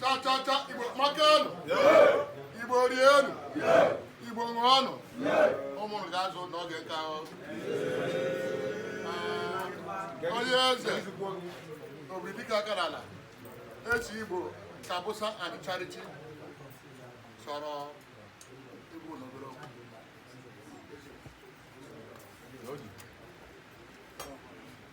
chachacha igbo makanụ igbo rienụ igbo ṅụọnụ ụmụrụ ga-azụ n'oge nke ahụ onye eze obi dịka aka n'ala eze igbo Kabusa and Sheretti sọrọ igbo n'obere okwu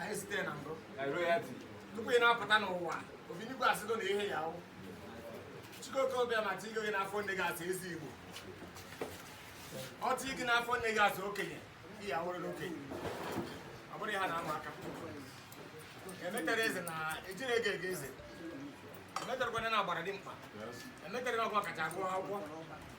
anyị site na mbụ tupu ị na-apụta n'ụwa obinigwe asịgo na ihe ị ya-awụ Chukwu okike obiọma tigo gị n'afọ nne gị asị eze igbo ọ tii gị n'afọ nne gị asị okenye ị ya-awụrụ n'okenye ọ bụrụ ya na-ama aka emetara eze na ejiri ego ego eze emetarakwa na agbara dimkpa emetara na ọ gị kacha agụ akwụkwọ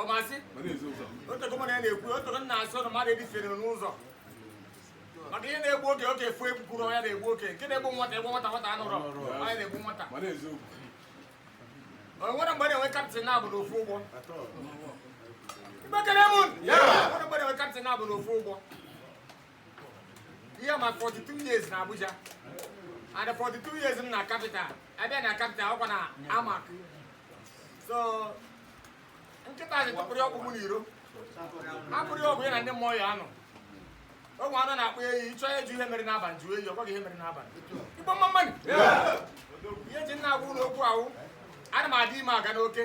ọmasị otego m na-ekwu otego m na-asị ụnụ mmadụ edifere n'ụzọ maka ihe na-egbu okenye okenye afụ ekwurọ ya na-egbu okenye nke na-egbu nwata ekwuo nwata nwata anụrọ ọ ya na-egbu nwata o nwere mgbe a na-enwe captain naabọ n'ofu ụgbọ mgbekere mụ nwere mgbe a na-enwe captain naabọ n'ofu ụgbọ ihe ma 42 years na Abuja and 42 years m na capital abịa na capital ọkwa na AMAC so nkịta sị tụpụrụ ọkpụkpụ n'iro hapụrụ ọgụ ya na ndị mmụọ ya anụọ o nwee anụ a na-akpọ eyi ị chọọ ịjụ ihe mere n'abalị jụọ eyi ọ gwa gị ihe mere n'abalị igbo mma mma nụ ihe m ji na-agwa ụnụ okwu a wụ ana m adị ime aga n'oke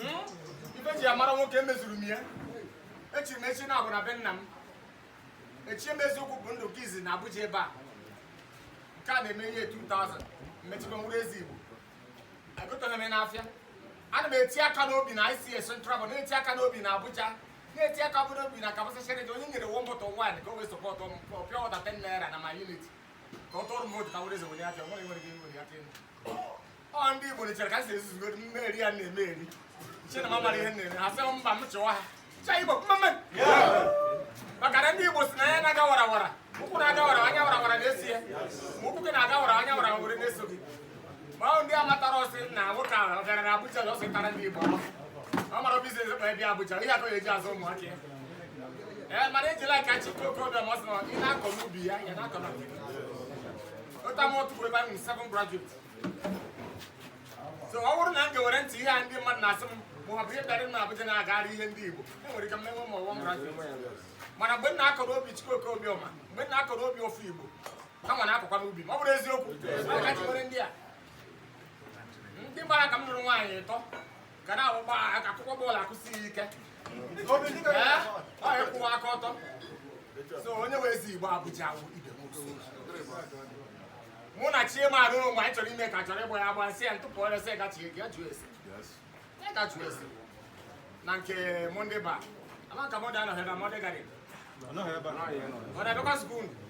hmm? ife eji amara nwoke emezuru m ya echi m echi na-abụ na be nna m echi m eziokwu bụ ndụ nke izizi na Abuja ebe a nke a na-eme year 2000 m echigo wụrụ eze Igbo egoterọ m n'afịa ana m eti aka n'obi na ICA Central na-eti aka n'obi na Abuja na-eti aka n'obi na Kabusa Sheretti onye m nyere one bottle wine ka o wee sọpọtụ m ka ọ pịa ọda 10 naira na my unit ka ọ tụọrọ m votu ka m were eze were ya nwere nwere gị nwere ya ọ ndị Igbo chere ka m si ezuzugo mme eri ya na-eme eri che na m amara ihe na-eme ha sị mba m chịwa ha cha Igbo mma mma maka na ndị Igbo si na ya na-aga wara wara ụkwụ na-aga wara anya wara wara na-eso ya ma ụkwụ gị na-aga wara anya wara wara na-eso gị ma ọ ndị amatara ọsị na nwoke ahụ ọ gara na Abuja na ọsị tara ndị Igbo ọ mara business kpa ebe Abuja ihe akọ ya eji azụ ụmụaka ya ee mana ejila ka Chukwu okike obiọma sị na ị na-akọ n'ubi ya ya na-akọ na otu ama otu bụ ebe anyị seven graduate so ọ bụrụ na m ga-were ntị ihe a ndị mmadụ na-asị m ma ọ bụ ihe bịara m na Abuja na-agagharị ihe ndị Igbo e nwere ike m enwe ma one graduate mana mgbe m na-akọrọ ubi Chukwu okike obiọma mgbe m na-akọrọ ubi ụmụ Igbo ha nwa ana-akọkwa n'ubi m ọ bụrụ eziokwu ka e ji were ndị a ndị gbara ka m nụrụ nwaanyị ịtọ ka na-awụgba aka akụkọ bọọlụ akụsighị ike ọ ịkwụwa aka ọtọ so onye wee ezi igbo abụja awụ ibe mụ na chiema arụrụ mgbe anyị chọrọ ime ka chọrọ ịgba ya agba si ya ntụpụ ọrịa si gachi ya gachu esi ya gachu esi na nke monde ba ama ka monde anọghị na monde gadin ọ na-abịakwa skuul